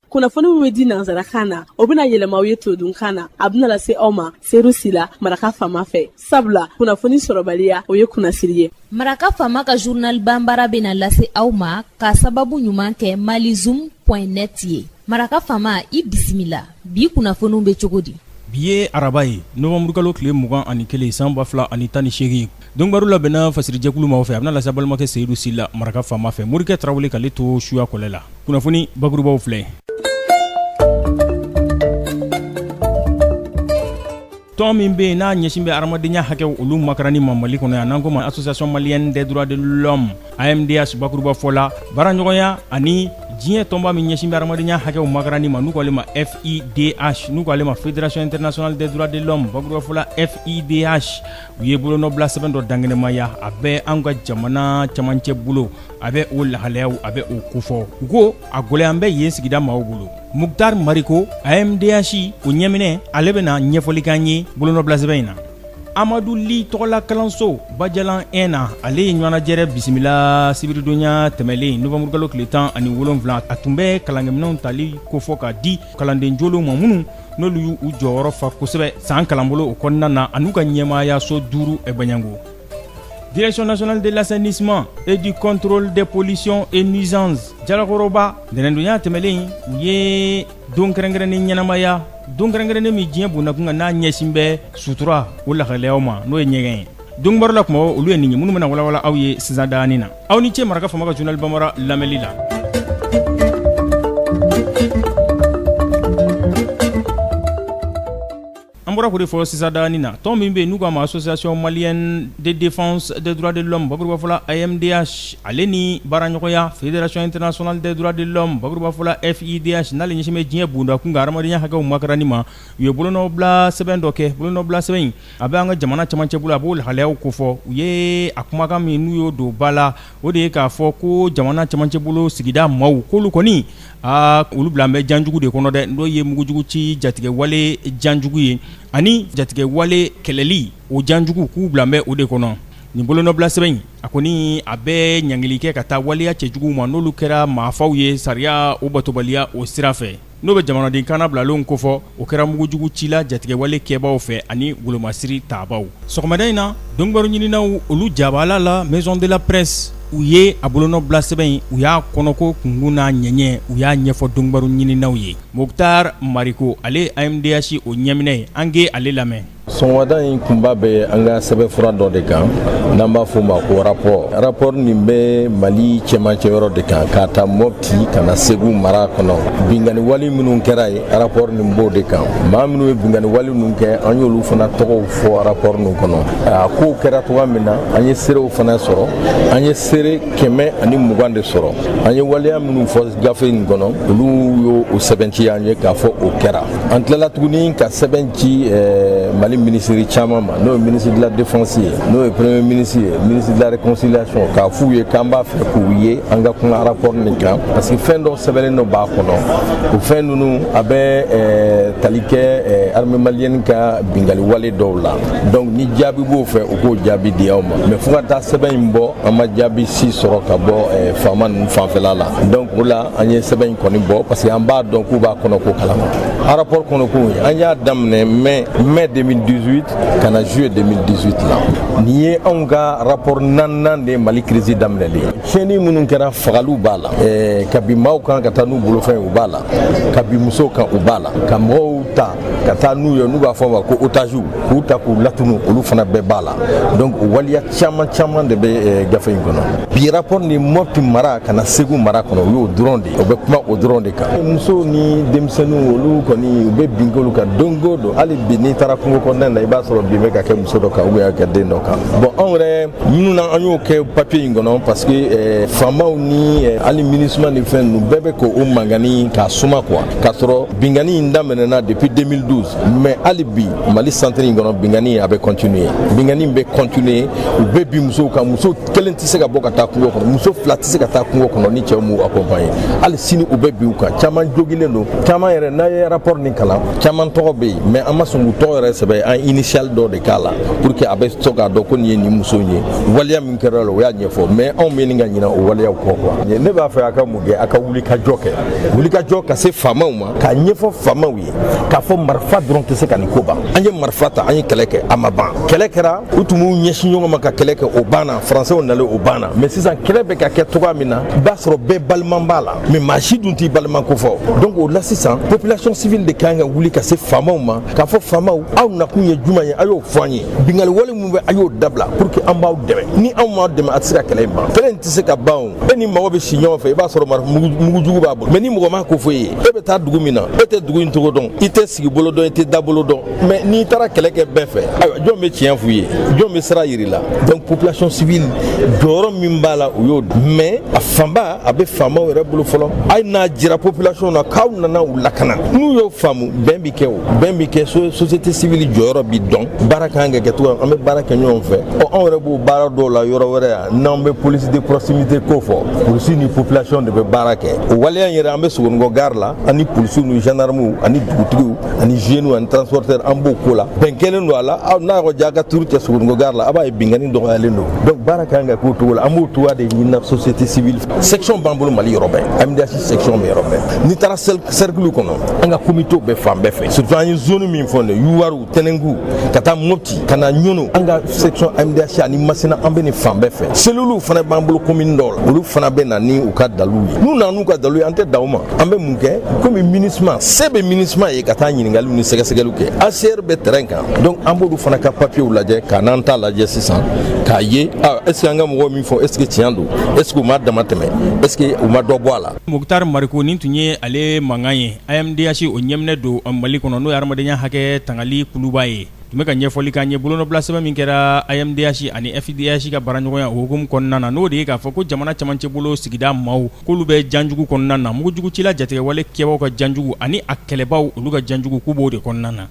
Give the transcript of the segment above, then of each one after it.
kunnafoni min bɛ di nansarakan na o bɛna yɛlɛma aw ye todunkan na a bɛna lase aw ma seyidu sila maraka faama fɛ sabula kunnafoni sɔrɔbaliya o ye kunnasiri ye maraka faama ka journal banbara bɛna lase aw ma ka sababu ɲuman kɛ malizoom point net ye maraka faama i bisimila bi kunnafoniw bɛ cogo di bi ye araba ye novanburukalo tile mugan ani kelen san ba fila ani tan ni seegin Donkibaru labɛnna fasirijɛkulu ma fɛ a bɛna lase balimakɛ seyidu sila maraka faama fɛ morikɛ tarawele k'ale to suya kɔlɛ la kunnafoni bakurubaw filɛ tɔn min bɛ yen n'a ɲɛsin bɛ hadamadenya hakɛw olu makaranni ma mali kɔnɔ yan n'an ko ma association malienne des droits de l'homme amdh bakuruba fɔla baaraɲɔgɔnya ani diɲɛ tɔnba min ɲɛsin bɛ hadamadenya hakɛw makaranni ma n'u k'ale ma fidh n'u k'ale ma fédération internationale des droits de l'homme bakuruba fɔla fidh u ye bolonɔbila sɛbɛn dɔ dankɛnɛmaya a bɛ an ka jamana camancɛ bolo a bɛ o lahalayaw a bɛ o kofɔ u ko a gɛlɛyalen bɛ yen sigida maaw bolo mukutari mariko amdh o ɲɛminɛ ale bɛna ɲɛfɔli k'an ye bolonɔbila sɛbɛn in na amadu li tɔgɔla kalanso bajalan 1 na ale ye ɲɔgɔnnajɛrɛ bisimila sibiridonya tɛmɛlen novanburukalo tile tan ani wolonfila a tun bɛ kalankɛminɛw tali kofɔ ka di kalanden jolenw ma minnu n'olu y'u jɔyɔrɔ fa kosɛbɛ san kalanbolo o kɔnɔna na an'u ka ɲɛmaayaso duuru baɲango direction nationale de l'assainissement et du contrôle des pollutions et nuisances jalakɔrɔba ntɛnɛndonya tɛmɛlen u ye don kɛrɛnkɛrɛnnen ɲɛnamaya don kɛrɛnkɛrɛnnen min diɲɛ bonnakun kan n'a ɲɛsin bɛ sutura o lahalayaw ma n'o ye ɲɛgɛn ye donkibaru la kuma olu ye nin ye minnu bɛna walawala aw ye sisan danin na aw ni ce maraka faama ka journal banbara lamɛnli la an bɔra k'o de fɔ sisan danin na tɔn min bɛ yen n'u k'a ma association malienne de défense des droits de l'homme bakuruba fɔla AMDH ale ni baaraɲɔgɔnya fédération internationale des droits de l'homme bakuruba fɔla FIDH n'ale ɲɛsin bɛ diɲɛ bundakun kan hadamadenya hakɛw makaranni ma u ye bolonɔbila sɛbɛn dɔ kɛ bolonɔbila sɛbɛn in a bɛ an ka jamana camancɛ bolo a b'o lahalayaw kofɔ u ye a kumakan min n'u y'o don ba la o de ye k'a fɔ ko jamana camancɛ bolo sigida maaw k'olu kɔni aa olu bilalen bɛ janjugu de kɔnɔ dɛ n'o ye mugujugu ci jatigɛwale janjugu ye ani jatigɛwale kɛlɛli o janjugu k'u bilalen bɛ o de kɔnɔ nin bolonɔbila sɛbɛn in a kɔni a bɛ ɲangili kɛ ka taa waleya cɛjuguw ma n'olu kɛra maafaw ye sariya o batobaliya o sira fɛ n'o bɛ jamanaden kannabilalenw kofɔ o kɛra mugujugu cila jatigɛwale kɛbaaw fɛ ani wolomasiri tabaaw sɔgɔmada in na donkibaru ɲininaw olu jabaala la maison de la presse u ye a bolonɔbila sɛbɛn in u y'a kɔnɔko kunkun n'a ɲɛɲɛ u y'a ɲɛfɔ donkibaru ɲininaw ye mukutari mariko ale ye amdh o ɲɛminɛ ye an ka ale lamɛn sɔgɔmada in kunba bɛ an ka sɛbɛnfura dɔ de kan n'an b'a fɔ o ma ko rapport rapport nin bɛ mali cɛmancɛ yɔrɔ de kan k'a ta mɔpti ka na segu mara kɔnɔ binkanni wali minnu kɛra yen rapport nin b'o de kan maa minnu ye binkanni wali ninnu kɛ an y'olu fana tɔgɔw fɔ rapport nin kɔnɔ a kow kɛra cogoya min na an ye seerew fana sɔrɔ an ye seere kɛmɛ ani mugan de sɔrɔ an ye waleya minnu fɔ gafe nin kɔnɔ olu y'o sɛmɛntiya an ye k'a fɔ o kɛra an tilala tuguni ka sɛbɛn ci eh, mali minisiri caman ma n'o ye minisiri de la défense ye n'o ye premier ministre ye minisiri de la réconciliation k'a f'u ye k'an b'a fɛ k'u ye an ka kuma rapport nin kan parce que fɛn dɔw sɛbɛnnen dɔ b'a kɔnɔ o fɛn ninnu a bɛ eh, tali kɛ eh, armée malienne ka binkanni wale dɔw la donc ni jaabi b'o fɛ u k'o jaabi di anw ma mais fo ka taa sɛbɛn in bɔ an ma jaabi si sɔrɔ ka bɔ faama ninnu fanfɛla la donc o la an ye sɛbɛn in kɔni bɔ parce que an b'a dɔn k'u b'a kɔnɔko kalama a rapport kɔnɔkow ye an y'a daminɛ mai mai 2018 ka na juillet 2018 la nin ye anw ka rapport naaninan de mali kirisi daminɛlen tiɲɛni minnu kɛra fagaliw b'a la ka bin maaw kan ka taa n'u bolofɛn ye u b'a la ka bin musow kan u b'a la ka mɔgɔw ta ka taa n'u ye n'u b'a fɔ ma ko otaziw k'u ta k'u latunu olu fana bɛɛ b'a la donc waleya caman caman de bɛ eh, gafe in kɔnɔ bi rapport nin mɔpti mara ka na segu mara kɔnɔ o y'o dɔrɔn de ye o bɛ kuma o dɔrɔn de kan musow ni denmisɛnninw olu kɔni u bɛ bin k'olu kan don o don hali bi n'i taara kungo kɔnɔna na i b'a sɔrɔ bin bɛ ka kɛ muso dɔ kan ou bien ka kɛ den dɔ kan bon anw yɛrɛ minnu na an y'o kɛ papiye in kɔnɔ parce que eh, faamaw ni eh, hali minisuma ni fɛn ninnu bɛɛ bɛ k'o mankan nin k'a suma quoi k'a sɔrɔ binkanni in daminɛna depuis 2012 mais hali bi mali santiri in kɔnɔ binkanni a bɛ continuer binkanni bɛ continuer u bɛ bin musow kan muso kelen tɛ se ka bɔ ka taa kungo kɔnɔ muso fila tɛ se ka taa kungo kɔnɔ ni cɛw m'u accompagner hali sini u bɛ bin u kan caman jogilen don caman yɛrɛ n'a ye rapport nin kalan caman tɔgɔ bɛ yen mais an ma sɔn k'u tɔgɔ yɛrɛ sɛbɛn an initial dɔ de k'a la pour que a bɛ sɔn k'a dɔn ko nin ye nin muso in ye waleya min kɛra a la o y'a ɲɛfɔ mais anw man kan ka ɲinɛ o waleyaw kɔ quoi ne b'a fɛ a ka kɛ a ka wulikajɔ kɛ wuli ka jɔ ka se faamaw ma k'a ɲɛfɔ faamaw ye k'a fɔ marifa dɔrɔn tɛ se ka nin ko ban an ye marifa ta an ye kɛlɛ kɛ a ma ban kɛlɛ kɛra u tun b'u ɲɛsin ɲɔgɔn ma ka kɛlɛ kɛ o banna faransɛw nalen o banna mais sisan kɛlɛ bɛ ka kɛ cogoya min na i b'a sɔrɔ bɛɛ balima b'a la mais maa si dun t'i balima kofɔ donc o la sisan population civile de ka kan ka wuli ka se faamaw ma k'a fɔ faamaw aw nakun ye jumɛn ye a y'o fɔ an ye binkanni wale min bɛ a y'o dabila pour que an b'aw dɛmɛ ni anw m'aw dɛmɛ a tɛ se ka kɛlɛ in ban kɛlɛ in tɛ se ka ban e ni mɔgɔ bɛ si ɲɔgɔn fɛ i b'a sɔrɔ mugujugu b'a bolo mɛ ni mɔgɔ m'a ko fɔ i ye e bɛ taa dugu min na e tɛ dugu in cogo dɔn i tɛ sigi bolo dɔn i tɛ da bolo dɔn mɛ n'i taara kɛlɛ kɛ bɛɛ fɛ ayiwa jɔn bɛ tiɲɛ f'u ye jɔn bɛ sira yir'i la donc population civile jɔyɔrɔ min b'a la o y'o mɛ a fanba a bɛ faamaw yɛrɛ bolo fɔlɔ hali n'a jira population na k'aw nana u lakana n'u y'o faamu bɛn bi kɛ o bɛn bi kɛ société civile jɔyɔrɔ bi dɔn baara ka kan ka kɛ cogoya an bɛ baara kɛ ɲɔgɔn fɛ ɔ anw yɛrɛ b'o baara dɔw la yɔrɔ wɛrɛ yan n'an bɛ police de proximité ko fɔ polisi ni population de bɛ baara kɛ o waleya in yɛrɛ an bɛ sogonikɔ gare la ani polisiw ni gendarmew ani dugutigiw ani jeunes ani transporteurs an b'o ko la bɛn kɛlen don a la aw n'a yɔrɔ ja ka turu cɛ sogonikɔ gare la a b'a ye binkanni dɔgɔyalen don donc baara ka kan ka k'o cogo la an b'o cogoya de ɲinina société civile section b'an bolo mali yɔrɔ bɛɛ amdh section bɛ yɔrɔ bɛɛ n'i taara cercle kɔnɔ an ka komitew bɛ fan bɛɛ fɛ surtout an ye zone min fɔ nin ye yuwaru tɛnɛngu ka taa mopti ka na ɲono an ka section amdh ani masina an bɛ nin fan bɛɛ fɛ seluluw fana b'an bolo komini dɔw la olu fana bɛ na ni u ka daliluw ye n'u nana n'u ka daliluw ye an tɛ dan o ma an bɛ mun kɛ komi minusma se bɛ minusma ye ka taa ɲiningaliw ni sɛgɛsɛgɛliw kɛ hcr bɛ terɛn kan donc an b'olu fana ka papiyew lajɛ ka n'an ta lajɛ sisan k'a ye ah, est ce que an ka mɔgɔw min fɔ est ce que tiɲɛ don est ce que u ma damatɛmɛ est ce que u ma dɔ bɔ a la mukutari mariko nin tun ye ale mankan ye AMDH o ɲɛminɛ don mali kɔnɔ n'o ye hadamadenya hakɛ tangali kuluba ye tun bɛ ka ɲɛfɔli k'an ye bolonɔbila sɛbɛn min kɛra AMDH ani FIDH ka baraɲɔgɔnya o hukumu kɔnɔna na n'o de ye k'a fɔ ko jamana camancɛ bolo sigida maaw k'olu bɛ janjugu kɔnɔna na mugujugucila jatigɛwale kɛbaw ka janjugu ani a kɛlɛbaw olu ka janjugu k'u b'o de kɔnɔna na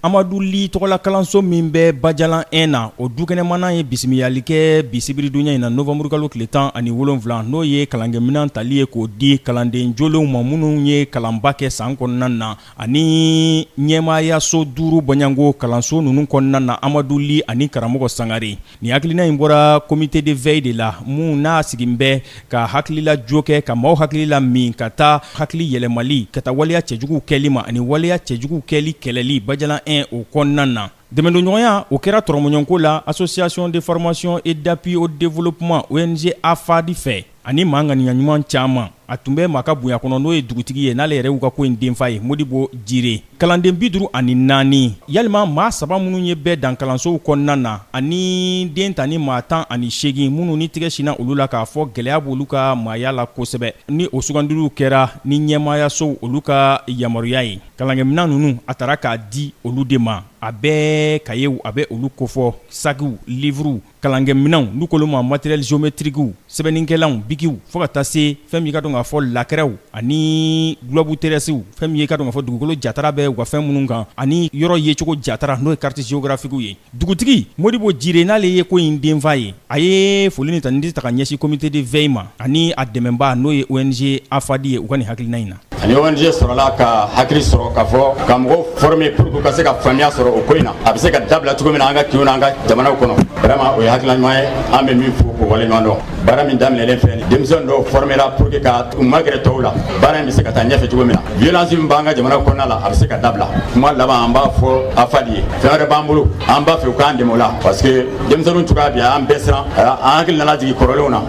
Amadu Li tɔgɔla kalanso min bɛ Bajalan 1 na, o dukɛnɛmannan ye bisimilali kɛ bi sibiridonya in na novembre kalo tile 17 n'o ye kalankɛminɛn tali ye k'o di kalanden jolenw ma minnu ye kalanba kɛ san kɔnɔna na ani ɲɛmaayaso duuru bɔɲɔgɔnko kalanso ninnu kɔnɔna na Amadu Li ani karamɔgɔ Sangare Ni hakilina in bɔra comité de veille de la mun n'a sigin bɛ ka hakilila jo kɛ ka maaw hakili la min ka taa hakili yɛlɛmali ka taa waleya cɛjuguw kɛli ma ani waleya cɛjuguw kɛli kɛlɛli bajalan 1 o kɔnɔna na. Dɛmɛdonɲɔgɔnya o kɛra tɔrɔmɔɲɔnko la Association de formation et d'appui au développement, ONG, AFAD, fɛ ani maa ŋaniyaɲuman caman. a tun bɛ maa ka bonya kɔnɔ n'o ye dugutigi ye n'ale yɛrɛ y'u ka ko in denfa ye modibo jire kalanden bi duuru ani naani yalima maa saba minnu ye bɛɛ dan kalansow kɔnɔna na ani den ta ni maa tan ani seegin minnu ni tigɛ sinna olu la k'a fɔ gɛlɛya b'olu ka maaya la kosɛbɛ ni o sugandiliw kɛra ni ɲɛmaayasow olu ka yamaruya ye kalankɛminɛn ninnu a tara k'a di olu de ma a bɛɛ kayew a bɛ olu kofɔ sakiw livruw kalankɛminɛnw n'u k'olu ma matériel géométriquew sɛbɛnnikɛlanw bikiw fo ka taa se fɛn min ye ka dɔn k'a fɔ lakɛrɛw ani globe terrestrew fɛn min ye ka dɔn k'a fɔ dugukolo jatara bɛ u ka fɛn minnu kan ani yɔrɔ yecogo jatara n'o ye carte géographiquew ye dugutigi modibo jire n'ale ye ko in denfa ye a ye foli ni tanidi ta ka ɲɛsin comité de veille ma ani a dɛmɛbaa n'o ye ONG AFAD ye u ka nin hakilina in na ani ONG sɔrɔla ka hakili sɔrɔ k'a fɔ ka mɔgɔw former pour que u ka se ka faamuya sɔrɔ o ko in na a bɛ se ka dabila cogo min na an ka kinw n'an ka jamanaw kɔnɔ vraiment o ye hakilina ɲuman ye an bɛ min fo k'o waleɲuman dɔn baara min daminɛlen filɛ nin denmisɛn dɔw formera pour que ka u magɛrɛ tɔw la baara in bɛ se ka taa ɲɛfɛ cogo min na violence min b'an ka jamana kɔnɔna la a bɛ se ka dabila kuma laban an b'a fɔ AFAD ye fɛn wɛrɛ b'an bolo an b'a fɛ u k'an dɛmɛ o la parce que denmisɛnninw cogoya bi an bɛɛ siran an hakili nana jigin kɔrɔlenw na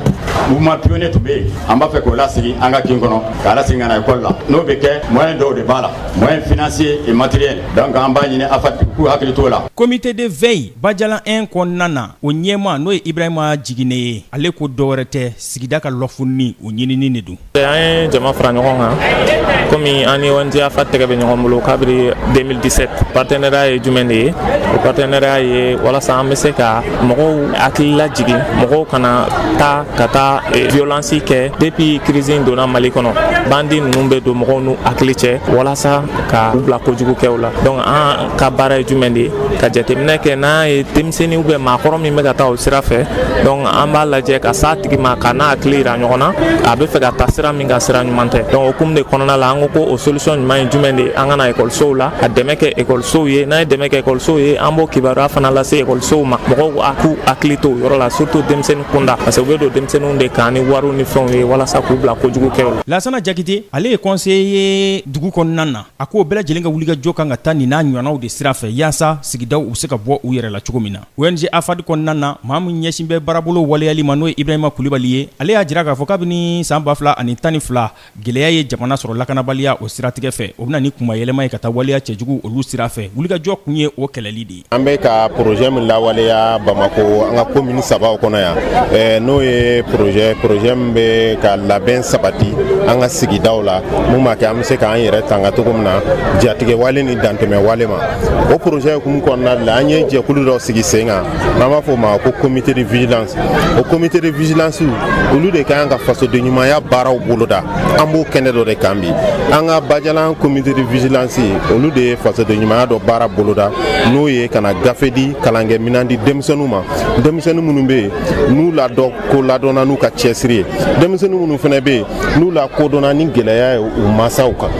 mouvement pionnier tun bɛ yen an b'a fɛ k'o lasigi an ka kin kɔnɔ k'a lasegin ka na ekɔli la n'o bɛ kɛ moyen dɔw de b'a la moyen financier et matériel donc an b'a ɲini AFAD u k'u hakili t'o la. Comité de veille Bajalan 1 kɔnɔna na o ɲɛmaa n'o ye Ibrahima Jigine ye ale ko dɔwɛrɛ tɛ sigida ka lɔfunni o ɲinini de don. An ye jama fara ɲɔgɔn kan komi an ni ONG AFAD tɛgɛ bɛ ɲɔgɔn bolo kabiri 2017 partenariat ye jumɛn de ye o partenariat ye walasa an bɛ se ka mɔgɔw hakili lajigin mɔgɔw kana taa ka taa eh, violence kɛ depuis crise in donna mali kɔnɔ bandi ninnu bɛ don mɔgɔw n'u hakili cɛ walasa ka u bila kojugu kɛw la donc an ka baara ye jumɛn de ye ka jateminɛ kɛ n'an ye denmisɛnnin ou bien maakɔrɔ min bɛ ka taa o sira fɛ donc an b'a lajɛ ka s'a tigi ma ka na hakili yira ɲɔgɔn na a bɛ fɛ ka taa sira min kan sira ɲuman tɛ donc o hukumu de kɔnɔna la an ko ko o solution ɲuman ye jumɛn de ye an ka na ekɔlisow la ka dɛmɛ kɛ ekɔlisow ye n'an ye dɛmɛ kɛ ekɔlisow ye an b'o kibaruya fana lase ekɔlisow ma mɔgɔw k'u hakili to o yɔrɔ la surtout denmisɛnnin kunda parce que u bɛ don denmisɛnninw de kan ni wariw ni fɛnw ye walasa k'u bila kojugu kɛw la lasana jakite ale ye conseiller ye dugu kɔnɔna na a ko bɛɛ lajɛlen ka wuli ka jɔ k'an ka taa nin n'a ɲɔgɔnnaw de sira fɛ yaasa sigidaw u bɛ se ka bɔ u yɛrɛ la cogo min na ONG AFAD kɔnɔna na maa min ɲɛsin bɛ baarabolo waleyali ma n'o ye ibrahima kulibali ye ale y'a jira k'a fɔ kabini san 2012 Gɛlɛya ye jamana sɔrɔ lakanabaliya o siratigɛ fɛ o bɛ na ni kuma yɛlɛma ye ka taa waleya cɛjugu olu sira fɛ wulikajɔ kun ye o kɛlɛli de ye an bɛ ka porozɛ min lawaleya bamakɔ an ka komini sabaw kɔnɔ yan n'o ye porozɛ porozɛ min bɛ ka labɛn sabati an ka sigidaw la min b'a kɛ an bɛ se k'an yɛrɛ tanga cogo min na jatigɛwale ni dantɛmɛ wale ma o porozɛ hukumu kɔnɔna la an ye jɛkulu dɔ sigi sen kan n'an b'a fɔ o ma ko comité de vigilance o comité de vigilance olu de ka kan ka fasoden ɲumanya baaraw boloda an b'o kɛnɛ dɔ de kan bi an ka bajalan comité de vigilance olu de ye fasoden ɲumanya dɔ baara boloda n'o ye ka na gafe di kalankɛminan di denmisɛnninw ma denmisɛnnin minnu bɛ yen n'u la dɔ ko ladɔnna n'u ka cɛsiri ye denmisɛnnin minnu fana bɛ yen n'u lakodɔnna ni gɛlɛya ye u masaw kan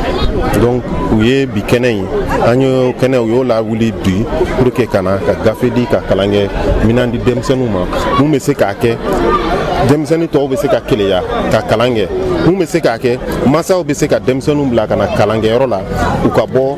donc u ye bi kɛnɛ in an y'o kɛnɛ u y'o lawuli bi pour que ka na ka gafe di ka kalankɛminan di denmisɛnninw ma mun bɛ se k'a kɛ denmisɛnnin tɔw bɛ se ka keleya ka kalan kɛ mun bɛ se k'a kɛ masaw bɛ se ka denmisɛnninw bila ka na kalankɛyɔrɔ la u ka bɔ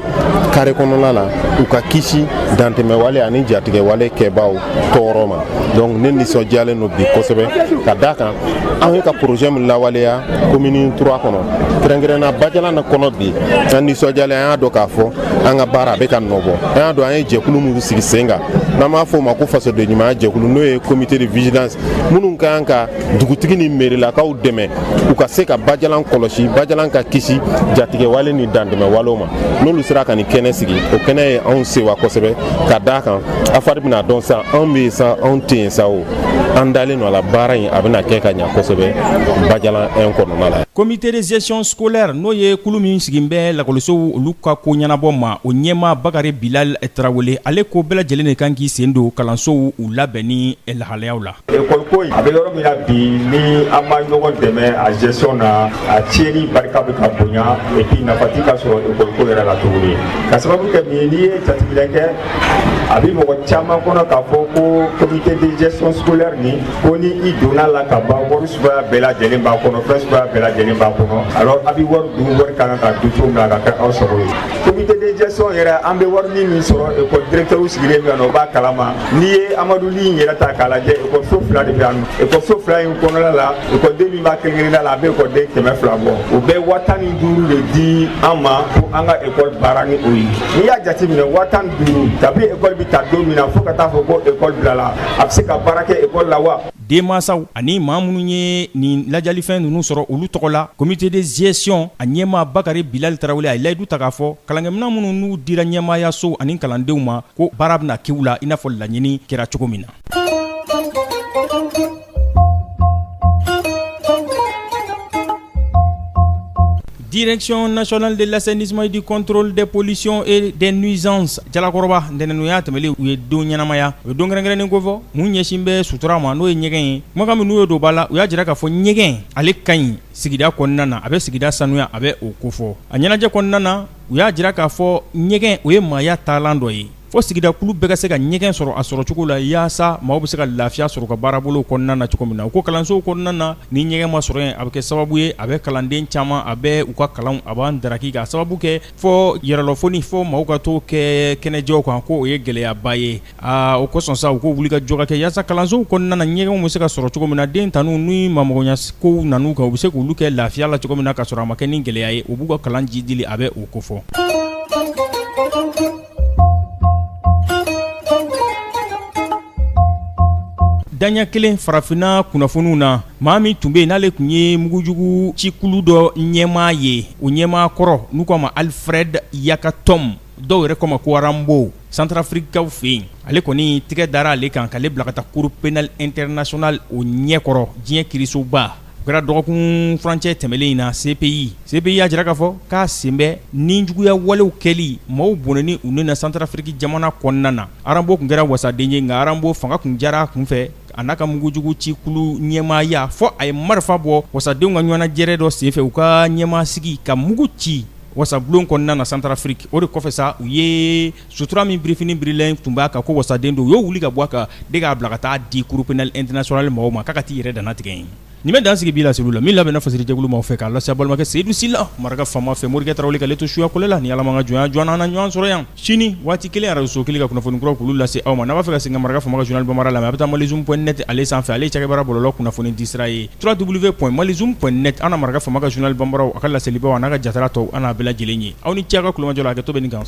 kare kɔnɔna na u ka kisi dantɛmɛwale ani jatigɛwale kɛbaaw tɔɔrɔ ma donc ne nisɔndiyalen don bi kosɛbɛ ka d'a kan an ye ka projet min lawaleya commune 3 kɔnɔ kɛrɛnkɛrɛnna bajalan kɔnɔ bi an nisɔndiyalen an y'a dɔn k'a fɔ an ka baara a bɛ ka nɔbɔ an y'a dɔn an ye jɛkulu min sigi sen kan n'an b'a fɔ o ma ko fasodenɲumanya jɛkulu n'o ye comité de vigilance minnu ka kan ka dugutigi ni merilakaw dɛmɛ u ka se ka bajalan kɔlɔsi bajalan ka kisi jatigɛwale ni dantɛmɛwalew ma n'olu sera ka nin kɛnɛ sigi o kɛnɛ ye anw sewa kosɛbɛ ka d'a kan AFAD bɛna dɔn sa anw bɛ yen sa anw tɛ yen sa o an dalen don a la baara in a bɛna kɛ ka ɲa kosɛbɛ bajalan 1 kɔnɔna la comité de gestion scolaire n'o ye kulu min sigin bɛ lakɔlisow olu ka ko ɲɛnabɔ ma o ɲɛmaa bakari bilal tarawele ale ko bɛɛ lajɛlen de kan k'i sen don kalansow u labɛnni lahalayaw la École ko a bɛ yɔrɔ min na bi ni an ma ɲɔgɔn dɛmɛ a gestion na a tiɲɛni barika bɛ ka bonya et puis nafa tɛ ka sɔrɔ école ko yɛrɛ la tuguni ka sababu kɛ min ye n'i ye jateminɛ kɛ a bɛ mɔgɔ caman kɔnɔ k'a fɔ ko comité de gestion scolaire nin ko ni i donn'a la ka ban wari suguya bɛɛ lajɛlen b'a kɔnɔ fɛn suguya bɛɛ lajɛlen b'a kɔnɔ alors a bɛ wari dun wari ka kan ka dun cogo min na a ka kɛ aw sago ye comité de gestion yɛrɛ an bɛ wari min sɔrɔ école directeur sigilen bɛ yan nɔ o b'a kalama n'i ye amadu li in yɛrɛ ta k'a lajɛ ekɔliso fila de bɛ yan nɔ ekɔliso fila in kɔnɔna la ekɔliden min b'a kelenkelenna la a bɛ ekɔliden kɛmɛ fila bɔ o bɛ waa tan ni duuru de di an ma ko an ka ekɔli baara ni o ye n'i y'a jateminɛ waa tan ni duuru kabi ekɔli bɛ ta don min na fo ka t'a fɔ ko ekɔli bilala a bɛ se ka baara kɛ ekɔli la wa denmansaw ani maa minnu ye nin ladiyalifɛn ninnu sɔrɔ olu tɔgɔ la comité de gestion a ɲɛmaa Bakari Bilali Tarawele a ye layidu ta k'a fɔ kalankɛminɛn minnu n'u dira ɲɛmaayaso ani kalandenw ma ko baara bɛna kɛ u la i n'a fɔ laɲini kɛra cogo min na. Direction nationale de l'assainissement et du contrôle des pollutions et des nuisances jalakɔrɔba ntɛnɛn tɛmɛlen u ye don ɲɛnamaya o ye don kɛrɛnkɛrɛnnen kofɔ mun ɲɛsin bɛ sutura ma n'o ye ɲɛgɛn ye kumakan min n'u ye don ba la u y'a jira k'a fɔ ɲɛgɛn ale ka ɲi sigida kɔnɔna na a bɛ sigida sanuya a bɛ o kofɔ a ɲɛnajɛ kɔnɔna na u y'a jira k'a fɔ ɲɛgɛn o ye maaya taalan dɔ ye Fo sigida kulu bɛɛ ka se ka ɲɛgɛn sɔrɔ a sɔrɔ cogo la yaasa maaw bɛ se ka lafiya sɔrɔ ka baarabolow kɔnɔna na cogo min na u ko kalansow kɔnɔna na ni ɲɛgɛn ma sɔrɔ yen a bɛ kɛ sababu ye a bɛ kalanden caman a bɛ u ka kalanw a b'an daraki ka sababu kɛ fɔ yɛrɛlafoni fɔ maaw ka to kɛ kɛnɛjɛw kan k' o ye gɛlɛyaba ye aa o kosɔn sa u ko wulikajɔ ka kɛ yaasa kalansow kɔnɔna na ɲɛgɛnw bɛ se ka sɔrɔ cogo min na den tanu ni mamɔgɔnya kow nan'u kan u bɛ se k olu kɛ lafiya la cogo min na ka sɔrɔ a ma kɛ ni gɛlɛya ye o b'u ka kalan jiidili a bɛ o kofɔ Daɲɛ kelen farafinna kunnafoniw na maa min tun bɛ n'ale tun ye mugujugu cikulu dɔ ɲɛmaa ye o ɲɛmaa kɔrɔ n'u k'a ma Alfred Yakatom dɔw yɛrɛ k'o ma ko Rambo Santarafirikikaw fɛ yen ale kɔni tɛgɛ dara ale kan k'ale bila ka taa cour pénale internationale o ɲɛkɔrɔ diɲɛ kiirisoba o kɛra dɔgɔkun furancɛ tɛmɛnen in na CPI, CPI y'a jira k'a fɔ k'a sen bɛ nijuguya walew kɛli maaw bɔnɛli u ni na Santarafiriki jamana kɔnɔna na, Arambo tun kɛra wasaden ye nka Arambo fanga tun diyara a kun fɛ a n'a ka mugujugu cikulu ɲɛmaaya fɔ a ye marifa bɔ wasadenw ka ɲɔgɔnnajɛrɛ dɔ senfɛ u ka ɲɛmaa sigi ka mugu ci wasabulon kɔnɔna na Santarafiriki o de kɔfɛ sa u ye sutura min birifini birilen tun b'a kan ko wasaden don u y'o wuli ka bɔ a kan de k'a bila ka taa di cour pénale internationale maaw ma k'a ka t'i yɛrɛ dantigɛ yen nin bɛ dan sigi bi laseli la min labɛnna fasiri jɛkulu maaw fɛ k'a lase balimakɛ Seydou Sila maraka faama fɛ Morikɛ Tarawele k'ale to suyakɔlɛ la ni Ala m'a ka jɔnya jɔ an na ɲɔgɔn sɔrɔ yan sini waati kelen arajo kelen ka kunnafoni kuraw k'olu lase aw ma n'a b'a fɛ ka segin ka maraka faama ka journal bamanan lamɛn a bɛ taa malizoom point net ale sanfɛ ale cakɛbara bɔlɔlɔ kunnafoni disira ye trois double v point malizoom point net an maraka faama ka journal bamanan a ka laselibaw n'a ka jatara tɔw an'a bɛɛ lajɛlen ye aw ni ce ka kumajɔ a kɛ to bɛ nin kan